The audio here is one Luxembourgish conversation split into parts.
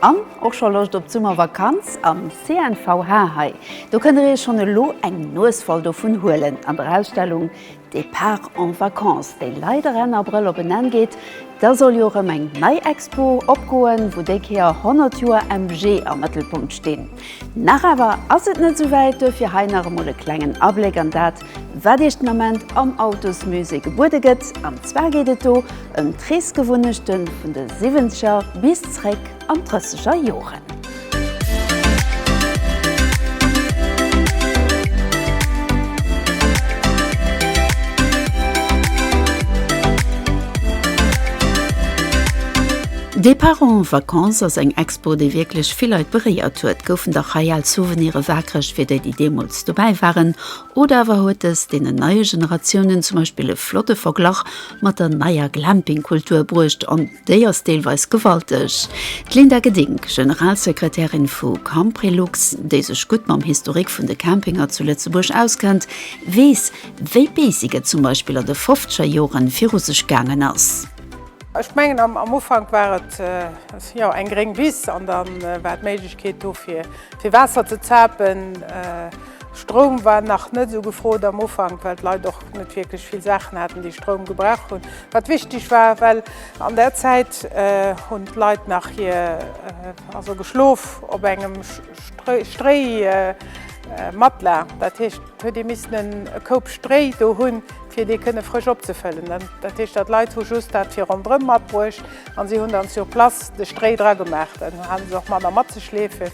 An och scho Loscht op d'Summervakanz am CNVH? Hei do kënnt der iech schonn elo eng Nues voll dovun huelen an der Ausstellung Départ en vacances, déi leider Enn Abrëll op en Enn geet. Da soll jo erëm eng nei Expo opgoen, wou déi Kéier 100 Joer MG am Mëttelpunkt stinn. Nach awer ass et net esou wäit, duerfir hei nach emol e klengen Abléck an dat, Wat Iech den Ament am Autosmusée gebuede gëtt, an zwar geet et do ëm d'Reesgewunnechte vun de Siwwenzeger bis zréck an d'Drësseger Joren. Départ en vacances ass eng Expo, déi wierklech vill Leit beréiert huet. Goufen dach hei al Souvenire waakreg fir déi, déi deemools dobäi waren. Oder awer huet es deenen neie Generatiounen zum Beispill e flotte Verglach mat der neier Glamping-Kultur bruecht, an déi ass deelweis gewalteg. D'Linda Gedink, Generalsekretärin vu Camprelux, déi sech gutt mam Historik vun de Campinger zu Lëtzebuerg auskennt, weess, wéi béisig et zum Beispill an de fofzeger Jore viru sech gaangen ass. Ech mengen, am Ufank war et eng gréng Wiss an da war d'Méiglechkeet do fir Waasser ze zapen. Stroum war nach net esou gefrot am Ufank, well d'Leit och net wierklech vill Saachen haten, déi Stroum gebraucht hunn, wat wichteg war, well an där Zäit hunn d'Leit nach hir, also geschlof op engem Stréi-Matla. Dat heescht, et huet ee missen e Koup Stréi do hunn, fir dee kënne frësch opzefëllen. Dat heescht, dat d'Leit hu just dat fir ronderëm matbruecht a si hunn dann sur place de Stréi dragemaach. Dann hate se och manner matzeschleefen.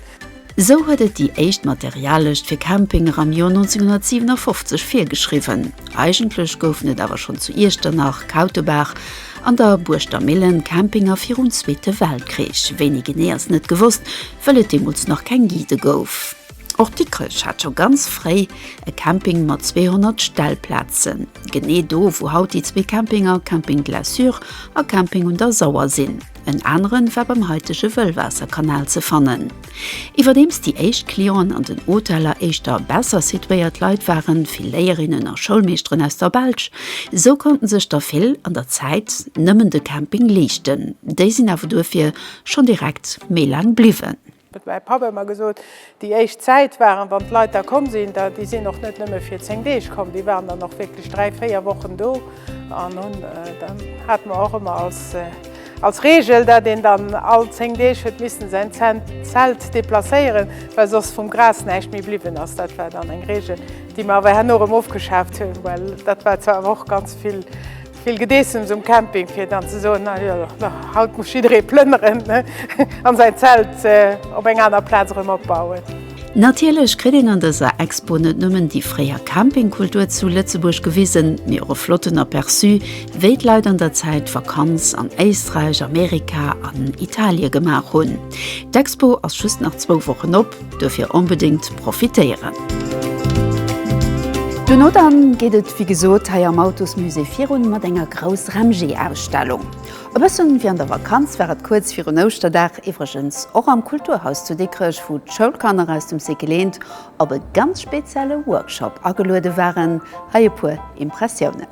Sou huet et déi éischt Materiallëscht fir Campinger am Joer 1957 virgeschriwwen. Eigentlech goufen et awer schonn zu Iechternach, Kautebaach an der Buurschter Millen Campinger virum Zweete Weltkrich. Wéini genee ass net gewosst, wëll et deemools nach keng Guidë gouf. Och Dikrech hat scho ganz fréi e Camping mat 200 Stellplazen, genee do wou haut déi zwee Campinger Camping Glaçure a Camping un der Sauer sinn. en aneren war beim haitege Wëllwaasserkanal ze fannen. Iwwerdeems déi éischt Clienten an den Hoteller éischter besser situéiert Leit waren, vill Léierinnen a Schoulmeeschteren aus der Belsch, esou konnten sech der vill an der Zäit nëmmen de Camping leeschten. Déi sinn awer duerfir schonn direkt méi laang bliwwen. Huet mäi Papp ëmmer gesot. Déi éischt Zäit waren, wann d'Leit da komm sinn, da, déi sinn och net nëmme fir 10 Deeg komm, déi waren dann och wierklech 3, 4 Wochen do an hunn, da hate mer och ëmmer als, als Regel, dat een dann all 10 Deeg huet missen säin Zelt deplacéieren, well soss vum Gras näischt méi bliwwen ass. Dat war dann eng Regel, déi mer awer herno erëm ofgeschaaft hunn, well dat war zwar awer och ganz vill. Vill Gedeessems um Camping, fir dann ze soen, na jo, haut muss jidderee plënneren an säin Zelt op eng aner Plaz erëm opbauen. Natierlech kritt een an dëser Expo net nëmmen déi fréier Campingkultur zu Lëtzebuerg gewisen, mee och e flotten Aperçu, wéi d'Leit an der Zäit Vakanz an Éisträich, Amerika an Italie gemaach hunn. D'Expo ass just nach zwou Wochen op. Dofir onbedéngt profitéieren! Duerno dann geet et wéi gesot hei am Autosmusée virun mat enger Grouss Remg-Ausstellung. E bëssen wéi an der Vakanz war et kuerz virun Ouschterdag iwwregens och am Kulturhaus zu Dikrech, wou d'Schoulkanner aus dem Cycle Eent op e ganz spezielle Workshop ageluede waren. Hei e puer Impressiounen.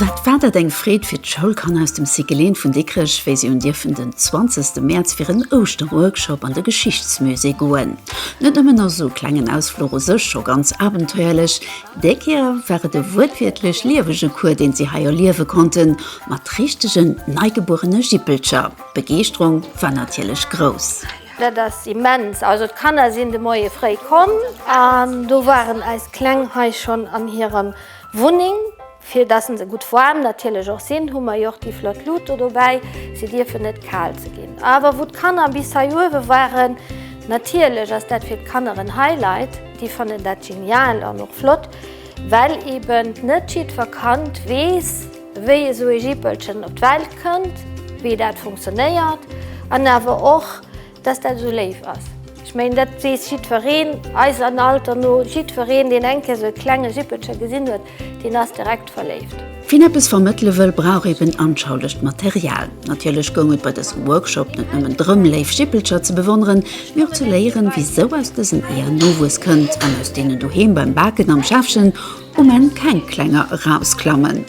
Wat war dat eng Freed fir d'Schoulkanner aus dem Cyclén vun Dikrech, wéi si hunn dierfen den 20 Mäerz fir en Ouschterworkshop an de Geschichtsmusée goen. Net nëmmen ass esou e klengen Ausfluch u sech scho ganz abenteuerlech, déi Kéier war et e wuertwiertlech liewege Cours, deen si hei erliewe konnten, mat richtegen neigebuerene Jippelcher. D'Begeeschterung war natierlech grouss. Dat ass immens. Also d'Kanner sinn de Moie fréi komm an do waren eis Kleng hei schonn an hirer Wunneng. Fir dass se gutt waarm natierlech och sinn, hu mer jo och déi flott Lut do dobäi. Si dierfen net kal ze ginn. Awer wou d'Kanner bis hei uewe waren, natierlech ass dat fir d'Kanner en Highlight. Déi fannen dat genial an och flott, well eeben net jiddwer Kand weess, wéi esou ee Jippelchen op d'Welt kënnt, wéi dat funktionéiert an awer och, dass dat esou léif ass. Ech mengen, dat weess jiddwereen, eis an Alter no, jiddwereen, deen eng Kéier esou e klenge Jippelche gesinn huet, deen ass direkt verléift. Wien eppes vermëttele wëll, brauch eben anschaulegt Material. Natierlech goung et bei dësem Workshop net nëmmen drëm, léif Jippelcher ze bewonneren, mee och ze léieren, wisou aus dësen Eeër Nowuess kënnt an aus deenen doheem beim Baken am Schäffchen Um Enn keng Klenger erausklammen,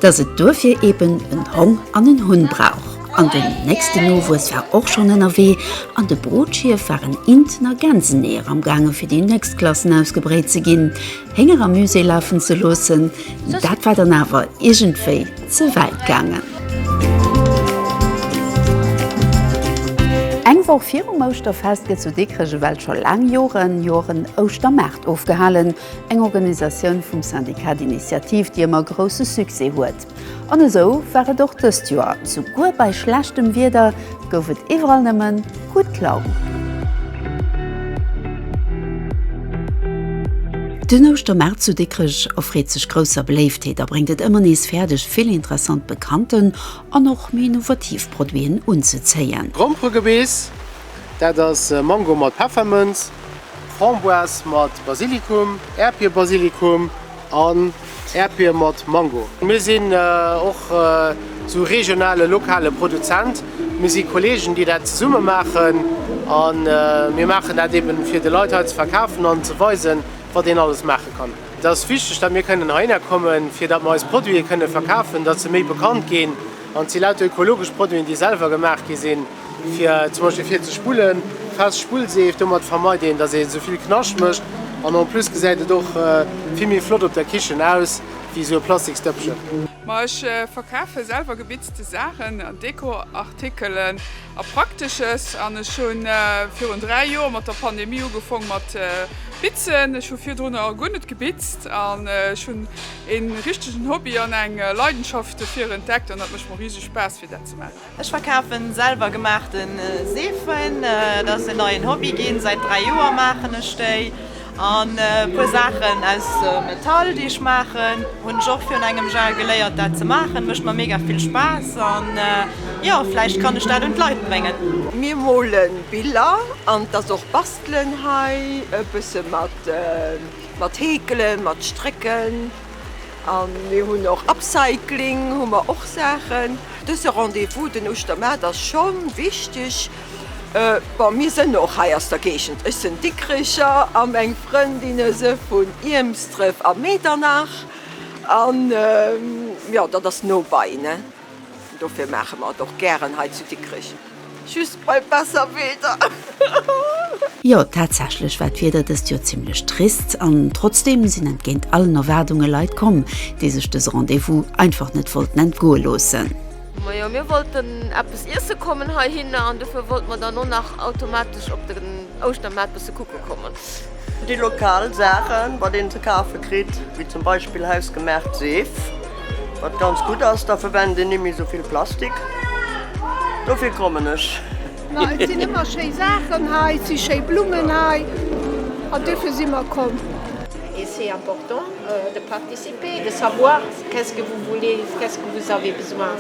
dass et duerfir eben en Hong an en Hunn brauch. An den nächsten Nowuess war och schonn ënnerwee an de Brotschierf waren Inten a Gänseneeër am gaange fir déi nächst Klassen ausgebréit ze ginn. Hénger am Musée lafen ze loossen, dat war dann awer iergendwéi ze wäit gaangen. Eng Woch virum Ouschterfest gëtt zu Dikrech ewell scho laang Joren, Joren Ouschtermaart ofgehalen. Eng Organisatioun vum Syndicat d'Initiative, déi ëmmer grousse Succès huet. An esou war et och dëst Joer, souguer bei schlechtem Wieder gouf et iwwerall nëmmen gutt Laun. Den Ouschtermaart zu Dikrech erfreet sech grousser Beléiftheet a bréngt et ëmmer nees fäerdeg, vill interessant bekannten an och méi innovativ Produiten unzezéien. Gromperegebeess, dat ass Mango mat Peffermënz. Framboise mat Basilikum, Äerdbierbasilikum an Äerdbier mat Mango. Mir sinn och esou regionale, lokale Produzent. Mir si Kolleegen, déi dat zesumme maachen. A mir maachen dat eeben, fir de Leit hei ze verkafen an ze weisen, wat een alles maache kann. Et ass wichteg, datt mir kënnen heihinner kommen, fir datt mir eis Produite kënnen verkafen, datt se méi bekannt ginn. An et si lauter ökologesch Produiten, déi selwer gemaach gi sinn. Fir zum Beispill vir ze spullen, fest Spullseef, domat vermeit een dass een esou vill Knascht mécht an en plus gesäit et och vill méi flott op der Kichen aus wéi esou e plastiks Dëppchen. Ma ech verkafe selwer gebitzte Saachen an Dekoartikelen a Praktesches an ech hu virun 3 Joer mat der Pandemie ugefong mat bitzen. Ech hu virdrunner guer net gebitzt an ech hunn een richtegen Hobby an eng Leidenschaft dofir entdeckt an dat mécht mer riseg Spaass fir dat ze maachen. Ech verkafen selwer gemaachten Seefen, dat ass en neien Hobby ginn. Säit 3 Joer maachen ech déi an e puer Saachen aus Metall déi ech maachen hunn ech och virun engem Jahr geléiert dat ze maachen. Mécht mer mega vill Spaass an jo vläicht kann ech dat un d'Leit bréngen. Mir molen Biller an et ass och bastelen hei e bësse mat Heekelen, mat Strécken. A mir hunn och Upcycling, hu mer och Saachen. Dëse Rendez-vous den Uschtermaart ass scho wichteg. Bon, mir sënn och hei aus der Géigend, ech sënn Dikkrecher a meng Frëndinne se vun Iermsdref a Medernach. An jo, dat ass no bei, ne? Dofir maache mer et och gären hei zu Dikrech, just bei besser Wieder. Jo, tatsächlech war d'Wieder dëst Joer zimmlech trist an trotzdeem sinn entgéint allen Erwaardunge Leit komm, déi sech dëse Rendez-vous einfach net wollten entgoe loossen. Majo, mir wollten eppes iesse kommen heihinner an dofir wollte mer dann och nach automatesch op den Ouschtermaart bësse kucke kommen. Déi lokal Saachen, wat een ze kafe kritt, wéi zum Beispill hausgemaacht Seef, wat ganz gutt ass, da verwennt een nimmi sou vill Plastik. Dofir kommen ech. Ma et sinn ëmmer schéi Saachen hei, et si schéi Blummen hei an dofir si mer komm. Et c'est important de participer, de savoir qu'est-ce que vous voulez, qu'est-ce que vous avez besoin,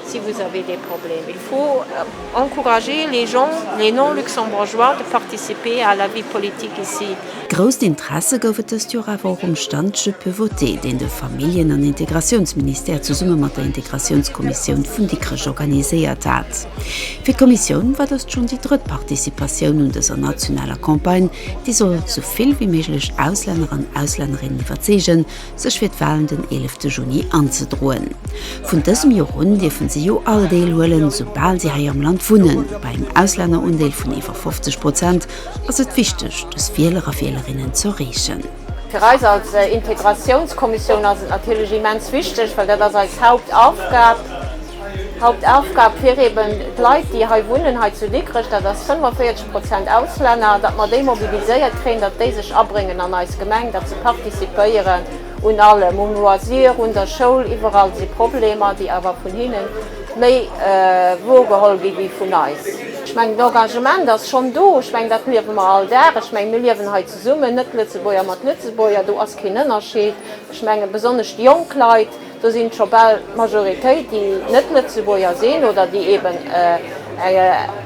si vous avez des problèmes. Faut encourager les gens, les non-luxembourgeois de participer à la vie politique ici. Grousst Interesse gouf et dëst Joer awer och um Stand Je peux voter, deen de Familljen an Integratiounsministère zesumme mat der Integratiounskommissioun vun Dikrech organiséiert hat. Fir d'Kommissioun war dëst schonn déi drëtt Participatioun un dëser nationaler Campagne, déi soll sou vill wéi méiglech Auslänner an Auslännerinnen iwwerzeegen, sech fir d'Walen den 11 Juni anzedroen. Vun dësem Jor un dierfen si jo all Deel huelen, soubal si hei am Land wunnen. Bei engem Auslännerundeel vun iwwer 50 Prozent ass et wichteg, dës Wieler a Wielerinnen ze erreechen. Fir eis als Integratiounskommissioun ass et natierlech immens wichteg, well dat ass eis Hauptaufgab, Hauptaufgab fir eeben d'Leit, déi hei wunnen, hei zu Dikrech, dat ass 45 Prozent Auslänner, datt mer déi mobiliséiert kréien, datt déi sech abréngen an eis Gemeng, datt se participéieren un allem, um Loisir, un der Schoul, iwwerall si Problemer, déi awer vun hinne méi woergeholl gi wéi vun eis. Ech mengen, d'Engagement ass schonn do. Ech mengen, dat liewe mer all Dag. Ech mengen, mir liewen hei zesummen, Net-Lëtzebuerger mat Lëtzebuerger, do ass keen Ënnerscheed. Ech mengen, besonnesch déi jonk Leit, Do sinn scho bal d'Majoritéit, déi net Lëtzebuerger sinn oder déi eeben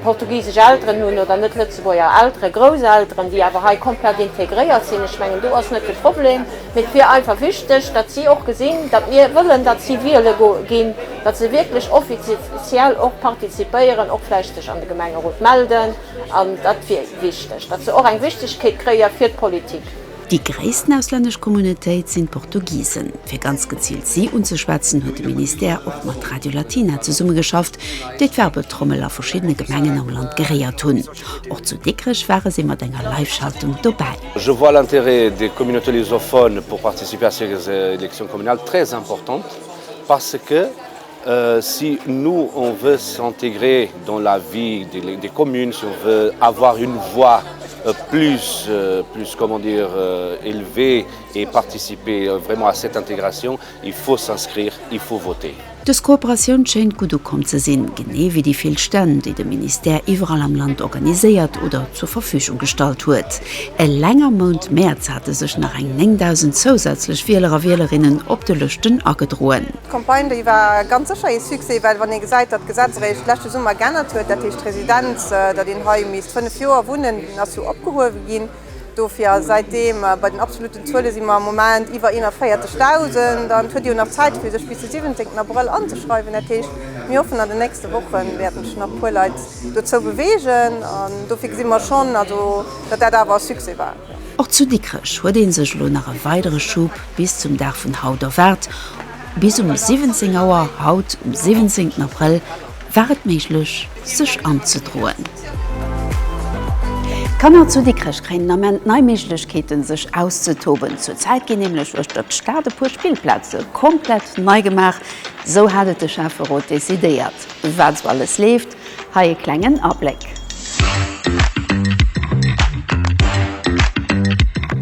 portugisesch Elteren hunn oder net Lëtzebuerger Elteren, Grousselteren, déi awer hei komplett integréiert sinn. Ech mengen, do ass net de Problem. Mee et wier einfach wichteg, datt si och gesinn, datt mir wëllen, datt si wiele ginn, datt se wierklech offiziell och partizipéieren, och vläicht sech an de Gemengerot melden. An dat wier wichteg, datt se och eng Wichtegkeet kréie fir d'Politik. Déi gréissten auslännesch Communautéit sinn d'Portugisen. Fir ganz geziilt si unzeschwätzen, huet de Ministère och mat Radio Latina zesummegeschafft, déi d'Werbetrommel a verschiddene Gemengen am Land geréiert hunn. Och zu Dikrech ware si mat enger Live-Schaltung dobäi. Je vois l'intérêt des communautés lusophones pour participer à ces élections communales très importantes parce que, Si nous on veut s'intégrer dans la vie des communes, si on veut avoir une voix plus plus comment dire élevée et participer vraiment à cette intégration, il faut s'inscrire, il faut voter. Dës Kooperatioun schéint gutt ukomm ze sinn, genee wéi déi vill Stänn, déi de Ministère iwwerall am Land organiséiert oder zur Verfügung gestallt huet. Eleng am Mount Mäerz hate sech nach eng 9.000 zousätzlech Wieler a Wielerinnen op de Lëschten agedroen. D'Campagne, déi war ganz sécher ee Succès, well wann ee gesäit, datt d'Gesetz eréischt d'leschte Summer geännert huet, dat heescht d'Residenz, datt een hei misst fënnef Joer wunnen, déi ass jo opgehuewe ginn dofir. A säitdeem, bei den absolutten Zuele si mer am Moment iwwer 41.000 an et huet ee jo nach Zäit fir sech bis de 17 Abrëll anzeschreiwen. Dat heescht, mir hoffen an den nächste Woche wäerten sech nach e puer Leit dozou beweegen an dofir gesi mer schonn also, datt dat awer e Succès war. Och zu Dikrech huet ee sech elo nach e weidere Schub bis zum Dag vun haut erwaart. Bis um 17 Auer haut um 17 Abrëll war et méiglech sech anzedroen. D'Kanner zu Dikrech kréien den Ament nei Méiglechkeeten sech auszetoben. Zur Zäit ginn nämlech uechter d'Stad e puer Spillplaze komplett nei gemaach. Esou hat et de Schäfferot decidéiert. Wat esou alles leeft, Hei e klengen Abléck.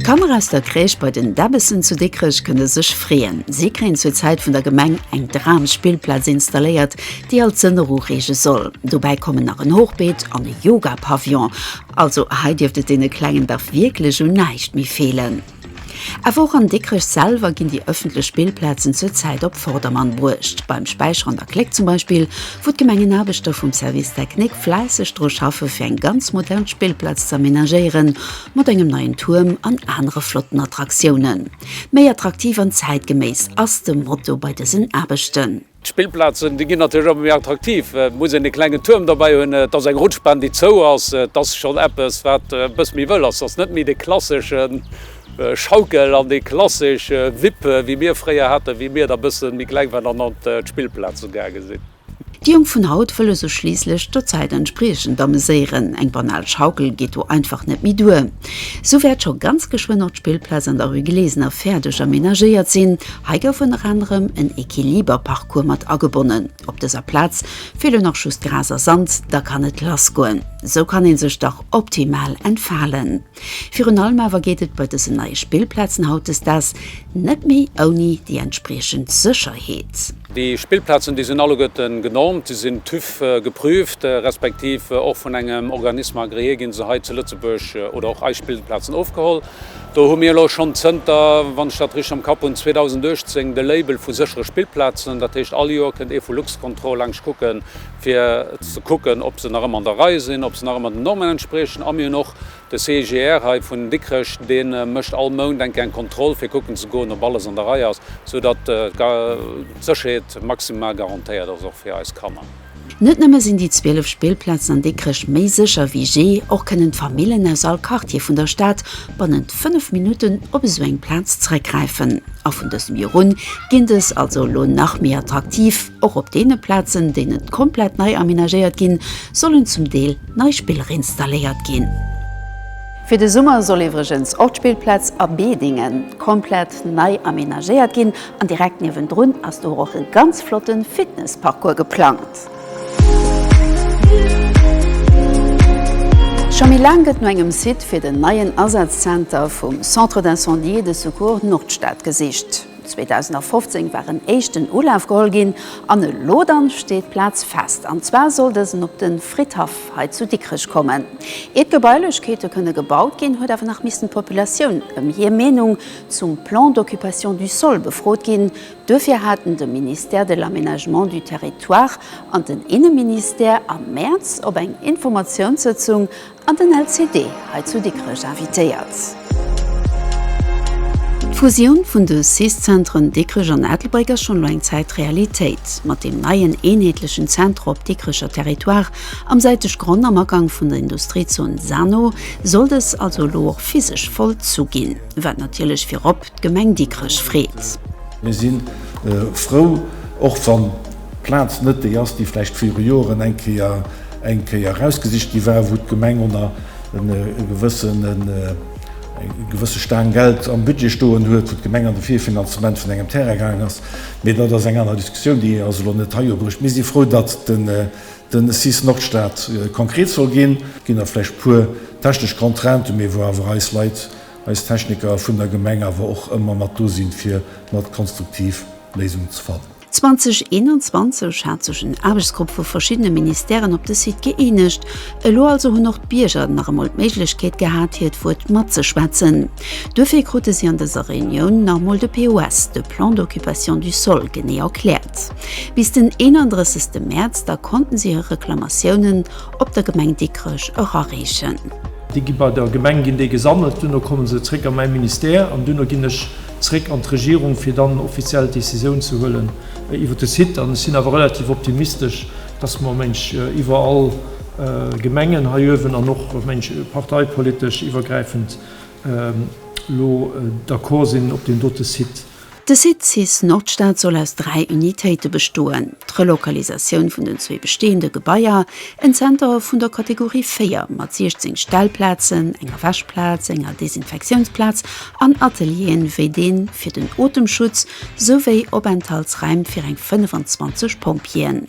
D'Kanner aus der Crèche bei den Debbessen zu Dikrech kënne sech freeën. Si kréien zur Zäit vun der Gemeng eng Dramspillplaz installéiert, déi all d'Sënner ureege soll. Dobäi kommen nach en Hochbeet an e Yoga-Pavillon. Also hei dierft et deene Klengen dach wierklech un näischt méi feelen. Awer och an Dikrech selwer ginn déi ëffentlech Spillplazen zur Zäit op Vordermann bruecht. Beim Späicher an der Kléck zum Beispill, wou d'Gemengenaarbechter vum Service technique fläisseg dru schaffe fir eng ganz modern Spillplaz ze amenagéieren, mat engem neien Tuerm an anere flotten Attraktiounen. Méi attraktiv an zäitgeméiss ass de Motto bei dësen Aarbechten. D'Spillplazen, déi ginn natierlech ëmmer méi attraktiv. Et muss een e klengen Tuerm dobäi hunn, et ass eng Rutschbahn, déi zou ass. Et ass schonn eppes, wat e bësse méi wëll ass. Et ass net méi de klassesche Schaukel an déi klassesch Wippe, wéi mir fréier haten, wéi mir da bësse méi kleng waren an an d'Spillplaze gaange sinn. Déi Jonk vun haut wëlle sech schliisslech der Zäit entspriechend ameséieren. Eng banal Schaukel geet do einfach net méi duer. Sou wäert scho ganz geschwënn och d'Spillplaz an der Rue Glesener fäerdeg amenagéiert sinn. Hei gouf ënner anerem en Equiliberparcours mat agebonnen. Op dëser Plaz feelt lo nach just Gras a Sand, da kann et lass goen. Sou kann ee sech dach optimal entfalen. Virun allem awer geet et bei dësen neie Spillplazen hautdesdaags net méi ouni déi entspriechend Sécherheet. Déi Spillplazen, déi sinn alleguerte genormt, déi sinn TÜV geprüft, respektiv och vun engem Organisme agréé gi se hei zu Lëtzebuerg oder och eis Spillplazen ofgeholl. Do hu mir elo schonn zënter, wann ech dat richteg am Kapp hunn, 2018 de Label vu séchere Spillplazen. Dat heescht, all Joer kënnt ee vu Luxcontrol laanscht kucke fir ze kucken, ob se nach ëmmer an der Rei sinn, ob se nach ëmmer den Normen entspriechen. A mir hunn och de CIGR hei vun Dikrech, dee mécht all Mount eng Kéier eng Kontroll, fir kucken ze goen, ob alles an der Rei ass, soudatt d'Sécherheet maximal garantéiert ass, och fir eis Kanner. Net nëmme sinn déi 12 Spillplazen an Dikrech méi sécher wéi jee, och kënnen d'Famillen aus all Quartier vun der Stad bannent 5 Minutten op esou eng Plaz zeréckgräifen. A vun dësem Joer un ginn dës also elo nach méi attraktiv. Och op deene Plazen, déi net komplett nei amenagéiert ginn, sollen zum Deel nei Spiller installéiert ginn. Fir de Summer soll iwwregens och d'Spillplaz a Bedingen komplett nei amenagéiert ginn. An direkt niewendrun ass do och e ganz flotte Fitnessparcours geplangt. Scho méi laang gëtt no engem Site fir den neien Asazenter vum Centre d'Incendie et de Secours Nordstad gesicht. 2015 war en éischten Ulaf geholl ginn an elo dann steet d'Plaz fest. An zwar soll dësen op de Fridhaff hei zu Dikrech kommen. Iert d'Gebailechkeete kënne gebaut ginn, huet awer nach missen d'Populatioun ëm hir Meenung zum Plan d'occupation du sol befrot ginn. Duerfir haten de Ministère de l'Aménagement du Territoire an den Inneministère am Mäerz op eng Informatiounssëtzung an den LCD hei zu Dikrech invitéiert. D'Fusioun vun de cis-Zentren Dikrech an Ettelbréck ass schonn elo eng Zäit Realitéit. Mat deem neien eenheetlechen Centre op Dikrecher Territoire, am säiteg Gronn am Agank vun der Industriezon Sanno, soll dës also elo och physesch vollzu ginn. Wat natierlech virop d'Gemeng Dikrech freet. Mir si frou, och wann d'Plaz net déi ass, déi vläicht viru Joren eng Kéier eng Kéier erausgesicht gi war, wou d'Gemeng ënner e gewëssen e gewësse Staang Geld am Budget stoen huet, wou d'Gemeng an de Virfinanzement vun engem Terrain gaangen ass. Mee dat ass eng aner Diskussioun, déi ass elo net hei ubruecht. Mir si frou, datt den cis Nordstad konkret soll ginn. Et ginn nach vläicht puer technesch Contrainten, mee wou awer eis Leit, eis Techniker vun der Gemeng awer och ëmmer mat do sinn, fir mat konstruktiv Léisungen ze fannen. 2021 hat sech en Aarbechtsgrupp vu verschiddene Ministèren op de Site gëeenegt. Elo also hunn och d'Bierger nach emol d'Méiglechkeet gehat, hiert Wuert matzeschwätzen. Duerfir krute si an dëser Reunioun nach emol de POS, de Plan d'occupation du sol, genee erkläert. Bis den 31 Mäerz da konnten si hir Reklamatiounen op der Gemeng Dikrech erareechen. Déi gi bei der Gemeng, ginn déi gesammelt, duerno komme se zréck a mäi Ministère an duerno ginn ech zréck an d'Regierung, fir dann offiziell d'Decisioun ze huelen iwwer de Site. An ech sinn awer relativ optimistesch, dass mer, meng ech, iwwer all Gemengen hei uewen an och, meng ech, parteipolitesch iwwergräifend elo d'accord sinn op deem dote Site. De Site cis Nordstad soll aus dräi Unitéite bestoen, d'Relokalisatioun vun den zwee besteeënde Gebaier, en Zenter vun der Kategorie 4 mat 16 Stellplazen, enger Wäschplaz, enger Desinfektiounsplaz an Atelieren wéi dee fir den Otemschutz, souwéi Openthaltsräim fir eng 25 Pompjeeën.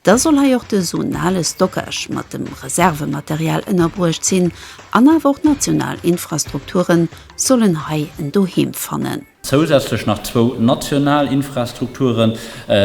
Da soll hei och de zonale Stockage mat dem Reservematerial ënnerbruecht sinn an awer och d'national Infrastrukturen sollen hei en Doheem fannen. Zousätzlech nach zwou national Infrastrukture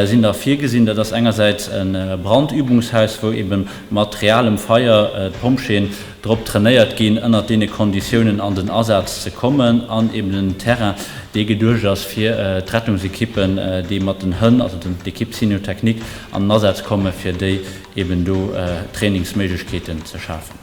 sinn da virgesinn. Dat ass engersäits e Brandübungshaus, wou ebe mat realem Feier d'Pompjeeën drop trainéiert ginn, ënnert deene Konditiounen an den Asaz ze kommen, an eben en Terrain, dee geduecht ass, fir d'Rettungsekippen, déi mat den Hënn, also d'Ekipp Cynotechnique, an den Asaz kommen, fir déi eben do Trainingsméiglechkeeten ze schafen.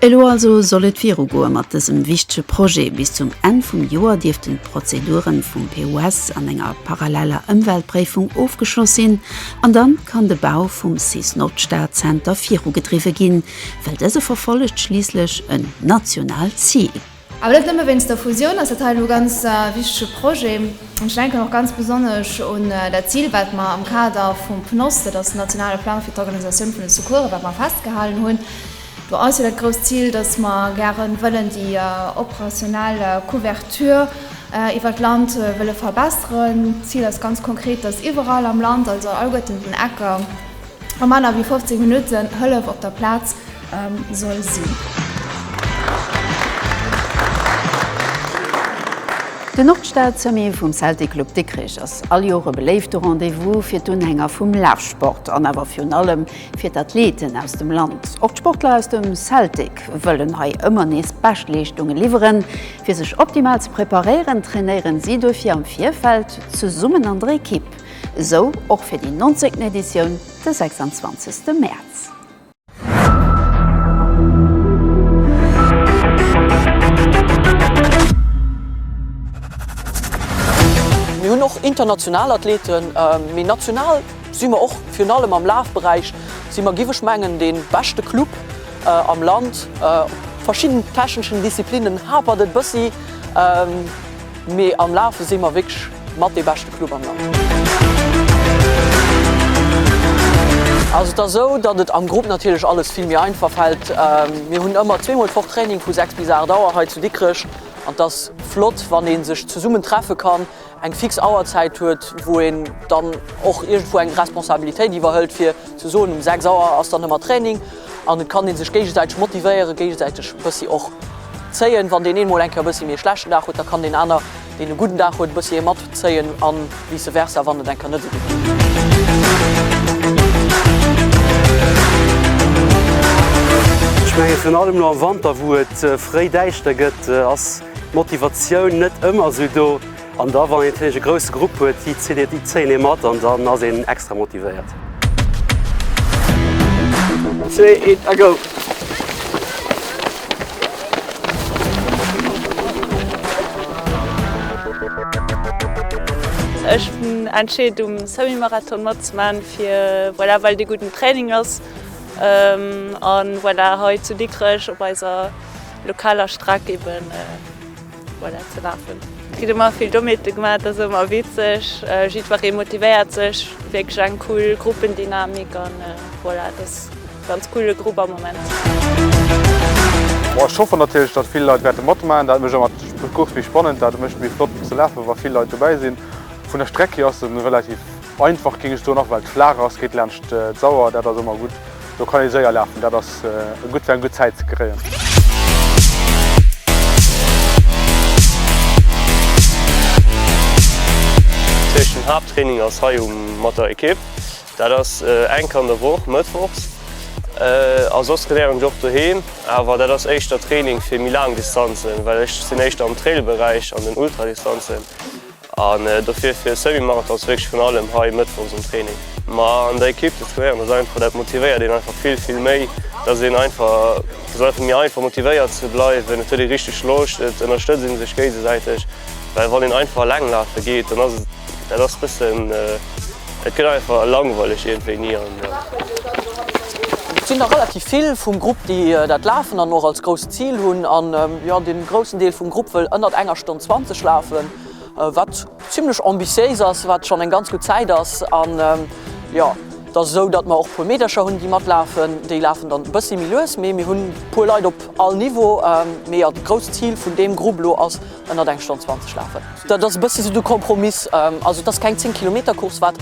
Elo also soll et virugoe mat dësem wichtege Projet. Bis zum Enn vum Joer dierften d'Prozedure vum PUS an enger paralleller Ëmweltpréifung ofgeschloss sinn an dann kann de Bau vum Cis-Nordstad-Zenter virugedriwwe ginn, well dëse verfollegt schliisslech en nationaalt Zil. Awer net nëmme wéinst der Fusioun ass dat hei elo e ganz wichtege Projet. Ech denken och ganz besonnesch un dat Zil, wat mer am Kader vum PNOS, dat ass den nationale Plang fir d'Organisatioun vun de Secoursen, wat mer festgehalen hunn. Do ass jo dat grousst Zil, dass mer gäre wëllen déi operationell Couverture iwwert d'Land wëlle verbesseren. D'Zil ass ganz konkret, dass iwwerall am Land, also alleguerten den Ecker, a manner wéi 15 Minutten Hëllef op der Plaz soll sinn. Den Nordstad-Sommet vum Celtic Club Dikrech ass all Joer e beléifte Rendez-vous fir d'Unhänger vum Lafsport an awer virun allem fir d'Athleten aus dem Land. Och d'Sportler aus dem Celtic wëllen hei ëmmer nees Beschtleeschtunge liwweren. Fir sech optimal ze preparéieren, trainéieren si duerfir am Virfeld zesummen an der Ekipp. Esou och fir déi nonzéngten Editioun de 26 Mäerz. Mir hunn och international Athleten, mee national si mer och virun allem am Lafberäich si mer, giff ech mengen, dee beschte Club am Land. Op verschidden techneschen Disziplinnen hapert et bëssi. Mee am Lafe si mer wierklech mat dee beschte Club am Land. Also et ass esou, datt et am Grupp natierlech alles vill méi einfach fält. Mir hunn ëmmer zweemol d'Woch Training vu 6 bis 8 Auer hei zu Dikrech an et ass flott, wann ee sech zesummen treffe kann, eng fix Auerzäit huet, wou een dann och iergendwou eng Responsabilitéit iwwerhëlt, fir ze soen, um 6 Auer ass dann ëmmer Training. An et kann een sech géigesäiteg motivéieren, géigesäiteg e bëssi och zéien. Wann deen een mol eng Kéier e bëssi méi e schlechten Dag huet, da kann deen aner, deen e gudden Dag huet, e bëssi ee mat zéien a vice versa, wann et eng Kéier net esou gutt geet. Ech menge virun allem elo am Wanter, wou et fréi däischter gëtt, ass d'Motivatioun net ëmmer esou do. An da wann een e grousse Grupp huet, déi zitt een déi 10 ee mat an dann ass een extra motivéiert. Zwee, een a go! Ech hunn entscheet um Semi-Marathon matzemaachen fir voilà well de gudden Training ass an voilà hei zu Dikrech op eiser lokaler Streck eben. Voilà, ze lafen. Et gëtt ëmmer vill Dommheete gemaach, dat ass ëmmer witzeg. Jiddweree motivéiert sech, wierklech eng cool Gruppendynamik an voilà, et ass e ganz coole Grupp am Moment. Bon, ech hoffe natierlech, datt vill Leit wäerte matmaachen, dat mécht ëmmer d'Course méi spannend, dat e mécht méi flott fir ze lafen, wa vill Leit dobäi sinn. Vun der Streck hier ass se relativ. Einfach géing ech soen, och well et flaach ass, geet laanscht d'Sauer, dat ass ëmmer gutt. Do kann ee séier lafen, dat ass gutt fir eng gutt Zäit ze kréien. Eischen Haapttraining ass hei um mat der Ekipp. Dat ass enk an der Woch, mëttwochs. A soss trainéieren ech och doheem, awer dat ass éischter Training fir méi laang Distanzen, well ech sinn éischter am Trail-Beräich an den Ultradistanzen. An dofir fir Semi-Marathon ass wierklech vun allem hei mëttwochs en Training. Ma an der Ekipp ze trainéieren ass einfach, dat motivéiert een einfach vill, vill méi. Et ass een einfach, et ass einfach méi einfach motivéiert ze bleiwen, et huet ee richteg Loscht, et ënnerstëtzt ee sech géigesäiteg. Well wann een einfach eleng lafe geet, dann ass et, dat ass e bëssen, Et gëtt einfach langweileg iergendwéini an. Et sinn der relativ vill vum Grupp, déi dat lafen an och als grousst Zil hunn. An jo, de groussen Deel vum Grupp wëll ënnert enger Stonn 20 lafen, wat zimlech ambitiéis ass, wat schonn eng ganz gutt Zäit ass. An jo, et ass esou, datt mer och e puer Meedercher hunn, déi matlafen. Déi lafen dann e bëssi méi lues, mee mir hunn e puer Leit op all Niveau. Mee jo, de grousst Zil vun deem Grupp elo ass, ënnert eng Stonn 20 lafen. Dat ass e bësse sou de Kompromiss. Also et ass keng 10 Kilometer Course, wat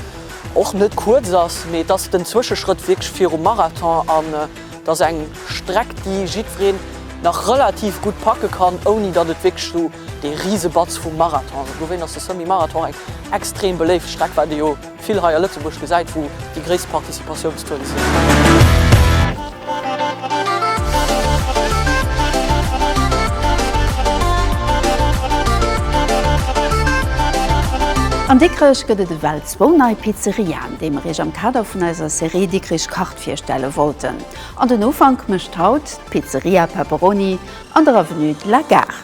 och net kuerz ass, mee et ass den Zwëscheschrëtt wierklech virum Marathon an et ass eng Streck, déi jiddwereen nach relativ gutt packe kann, ouni datt et wierklech sou dee Risebatz vum Marathon ass. Dowéinst ass de Semi-Marathon eng extrem beléift Streck, wat ee jo. Vill hei a Lëtzebuerg gesäit, wou déi gréisst Participatiounstaux sinn. An Dikrech gëtt et ewell zwou nei Pizzeriaen, déi mer Iech am Kader vun eiser Serie Dikrich kacht virstelle wollten. An den Ufank mécht haut d'Pizzeria Pepperoni an der Avenue de la Gare.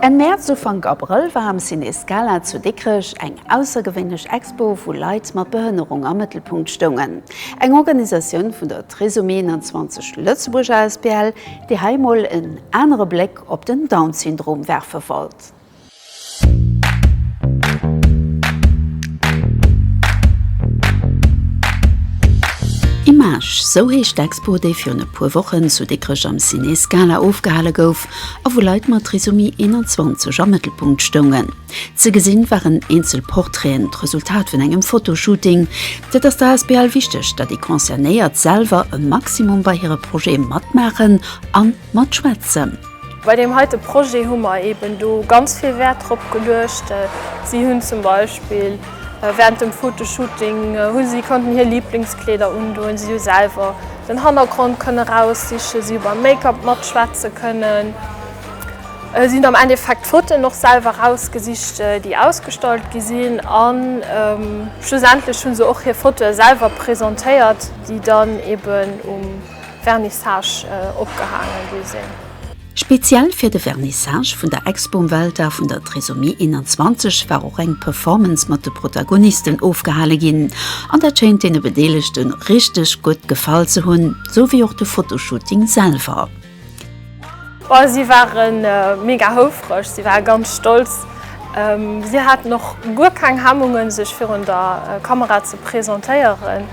Enn Mäerz, Ufank Abrëll war am Ciné Scala zu Dikrech eng aussergewéinlech Expo wou Leit mat Behënnerung am Mëttelpunkt stoungen. Eng Organisatioun vun der. D'Réseau 21 Lëtzebuerg asbl, déi hei mol en anere Bléck op den Down-Syndrom werfe wollt. Image, Sou heescht d'Expo, déi virun e puer Wochen zu Dikrech am Ciné Scala ofgehale gouf a wou Leit mat Trisomie 21 am Mëttelpunkt stoungen. Ze gesinn waren eenzel Portraiten, d'Resultat vun engem Fotoshooting. Et ass der Asbl wichteg, datt déi Concernéiert selwer e Maximum bei hire Projete matmaachen a matschwätzen. Bei deem heite Projet hu mer eeben do ganz vill Wäert drop geluecht. Si hunn zum Beispill während dem Fotoshooting hu si konnten hir Liblingskleeder undoen, si hu selwer den Hannergrond kënne raussichen, si hu beim Make-up matschwätze kënnen. Sinn am Endeffekt d'Fotoen och selwer rausgesicht, déi ausgestallt gi sinn. A schlussendlech hu se och hir Fotoe selwer presentéiert, déi dann eben um Vernissage opgehaangen gi sinn. Speziell fir de Vernissage vun der Expo um Welldag vun der Trisomie 21 war och eng Performance mat de Protagonisten ofgehale ginn. An dat schéint deene Bedeelegte richteg gutt gefall ze hunn, sou wéi och de Fotoshooting selwer. Si ware mega houfreg, si ware ganz stolz. Si haten och guer keng Hemmungen, sech virun der Kamera ze presentéieren.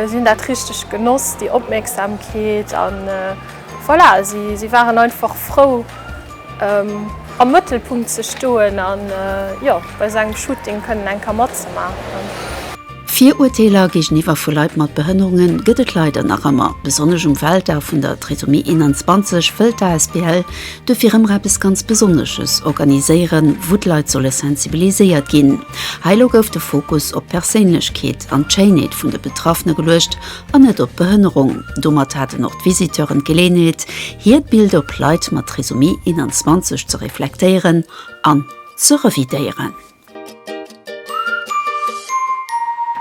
Si hunn dat richteg genoss, déi Opmierksamkeet. A voilà, si waren einfach frou, am Mëttelpunkt ze stoen a jo, bei esou engem Shooting kënnen eng Kéier matzemaachen. Virurteeler géigeniwwer vu Leit mat Behënnerunge gëtt et leider nach ëmmer. Besonnesch um Weltdag vun der Trisomie 21 wëllt d'asbl duerfir ëmmer eppes ganz Besonnesches organiséieren, wou d'Leit solle sensibiliséiert ginn. Hei lo gouf de Fokus op d'Perséinlechkeet an d'Schéinheet vun de Betraffene geluecht an net op d'Behënnerung. Domat haten och d'Visiteuren d'Geleeënheet, hiert Bild op Leit mat Trisomie 21 ze reflektéieren an ze revidéieren.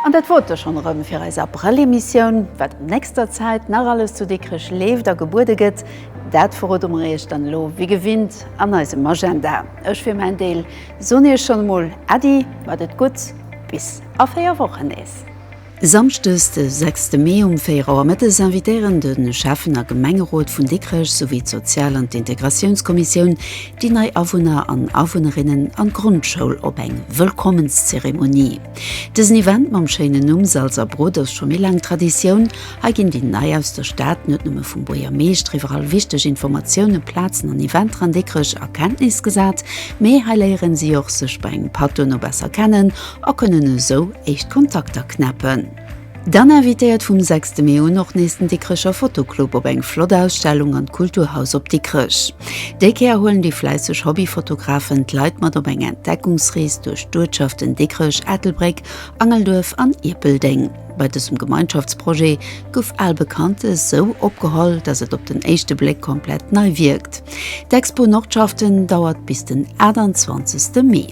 An dat wor et da schonn erëm fir eis Abrëll-Emissioun. Wat an nächster Zäit nach alles zu Dikrech leeft a gebuede gëtt, dat verrode mer iech dann elo wéi gewinnt an eisem Agenda. Ech fir mäin Deel soen iech schonn emol Äddi, mat et gutt, bis a 4 Wochen nees. Samschdes de 6 Mee um 4 Auer mëttes invitéieren de Schäffen a Gemengerot vun Dikrech souwéi d'Sozial an d'Integratiounskommissioun déi nei Awunner an Awunnerinnen an d'Grondschoul op eng Wëllkommenszeremonie. Dësen Event mam schéinen Numm Salz a Brot ass scho méi laang Traditioun. Hei ginn déi nei aus der Stad net nëmme vum Buergermeeschter iwwer all wichteg Informatiounen, Plazen an Eventer an Dikrech a Kenntnis gesat, mee hei léieren si och sech bei engem Patt duerno besser kennen a kënnen esou éischt Kontakter knäppen. Dann invitéiert vum 6 Mee un och nees den Dikrecher Fotoclub op eng flott Ausstellung an d'Kulturhaus op Dikrech. Déi Kéier huelen déi fläisseg Hobbyfotografen d'Leit mat op eng Entdeckungsrees duerch d'Uertschaften Dikrech, Ettelbréck, Angelduerf an Ierpeldeng. Bei dësem Gemeinschaftsprojet gouf al Bekanntes sou opgeholl, datt et op den éischte Bléck komplett nei wierkt. D'Expo Nordschaften dauert bis den 28 Mee.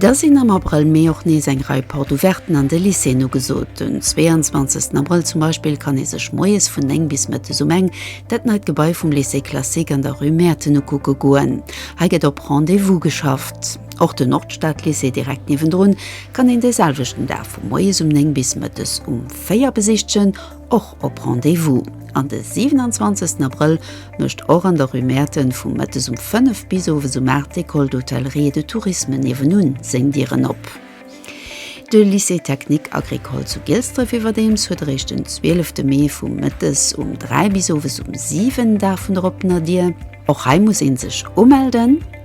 Da sinn am Abrëll, Mee och nees eng Rei Porte Ouverten an de Lycéeën ugesot. Den 22 Abrëll zum Beispill kann ee sech moies vun 9 bis mëttes um eng dat neit Gebai vum Lycée classique an der Rue Mäerten ukucke goen. Hei gëtt op Rendez-vous geschafft. Och de Nordstadlycée direkt niewendrun kann een de selwechten Dag vu moies um 9 bis mëttes um 4 besichtegen. och op Rendez-vous. An de 27 Abrëll mécht och an der Rue Mäerten vu mëttes um 5 bis owes um 8 d'École d'Hôtellerie et de Tourisme niewendun seng Dieren op. De Lycée technique agricole zu Gilsdref iwwerdeems huet eréischt den 12 Mee vu mëttes um 3 bis owes um 7 Dag vun der oppener Dier. Och hei muss ee sech umelden.